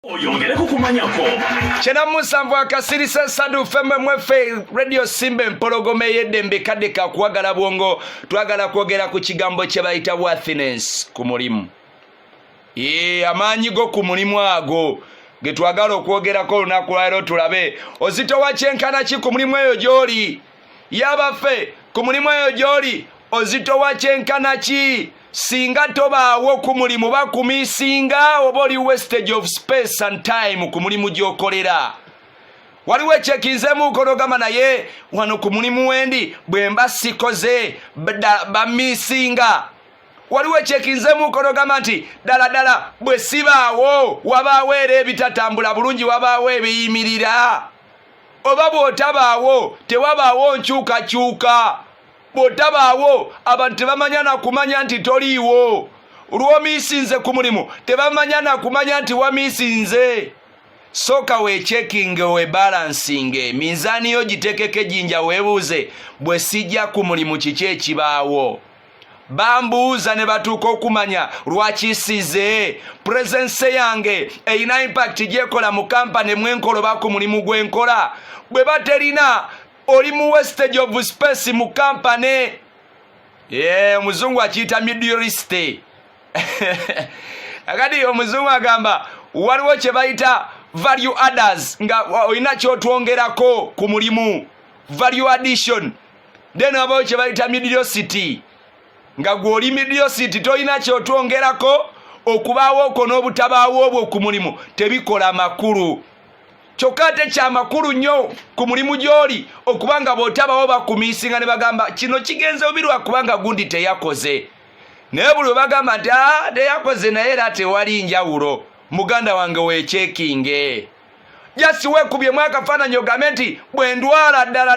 oyongereko kumanyako kyena musanvu akasirisa esadu femme mwefe radio simba empologoma eyeddembe kadde kakuwagala bwongo twagala kwogera ku kigambo kye bayita wathiness ku mulimu ee amaanyi go ku mulimu ago ge twagala okwogerako olunaku lwaliro tulabe ozitowa kyenkana ki ku mulimu eyo gy'oli yabaffe ku mulimu eyo gy'oli ozitowa kyenkana ki singa tobaawo ku mulimu bakumi singa oba oli westage of space and time ku mulimu gy'okolera waliwo ekyekinzemu nkono gamba naye wano ku mulimu wendi bwe mba sikoze bamisinga waliwo ekyekinzemu nkono gamba nti ddala ddala bwe sibaawo wabaawo era ebitatambula bulungi wabaawo ebiyimirira oba bw'otabaawo tewabaawo nkyukakyuka bw'otabaawo abantu tebamanya na kumanya nti toliiwo lw'omiisinze ku mulimu tebamanya na kumanya nti wamiisinze sooka weekyekinge webalansinge minzaani yo gitekeko ejinja weebuuze bwe sijja ku mulimu kiki ekibaawo bambuuza ne batuuka okumanya lwaki size purezense yange erina impakiti gyekola mu kampani mwenkoloba ku mulimu gwenkola bwe baterina oli mu westage of space mu kampani ye omuzungu akiyita miduriste akati omuzungu agamba waliwo kye bayita value adders nga olina kyotwongerako ku mulimu value addition then wabawo kyebayita midiosity nga gwoli midiosity tolina kyotwongerako okubaawo okwo n'obutabaawo obwo ku mulimu tebikola makulu kyokka ate kyamakulu nnyo ku mulimu gy'oli okuba nga bw'otabawo bakumiisinga ne bagamba kino kigenze bubi lwakubanga gundi teyakoze naye buli webagamba nti ah, teyakoze naye era tewali njawulo muganda wange wekyekinge jasi wekubyemu akafaananyi ogambe nti bwe ndwala ddala